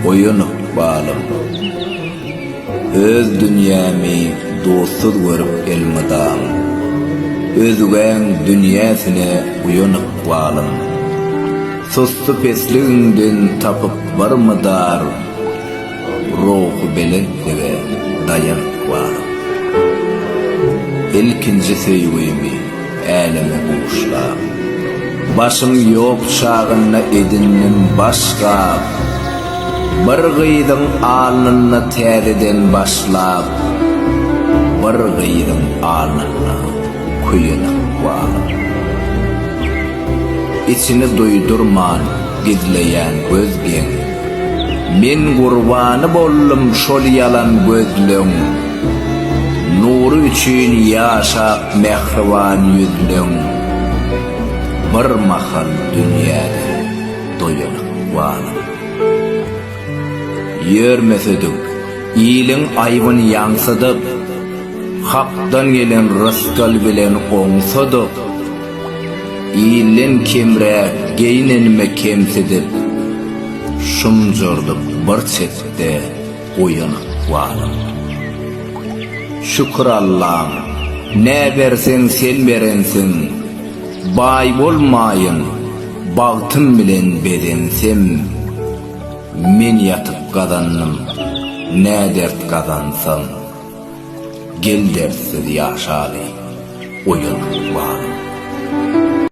Oýun ykbalym. Öz dünýämi dostsuz görüp elmydam. Özgäň dünýäsine uýan ykbalym. Sussy pesligiňden tapyp barmy dar? Ruhubelentlige daýanp baryp. Ilkinji söýgimi äleme buşlap. Başym ýok çagynda edindim baş gap. Bir gyzyň alnynda täzeden başlap. Bir gyzyň alnynda köýenek baryp. Içini duýdurman gizleýän göz geň. Men gurbany boldum şol ýalan gözleň Nury üçin ýaşap mähriban ýüzleň Bir mahal dünýäde doýalyk balam Ýörmesedik iliň aýbyn ýaňsydyp Hakdan gelen rysgal bilen oňsadyk Iýilen kemräk, geýnenime kemsidip, Şumjurdyp bir çetde oýanyp barym. Şükür Allam, nä berseň sen berensiň, Baý bolmaýyn, bagtym bilen bezensem. Men ýatyp gazandym, nä dert gazansam. Gel dertsiz ýaşaly, oýan ruhbanym.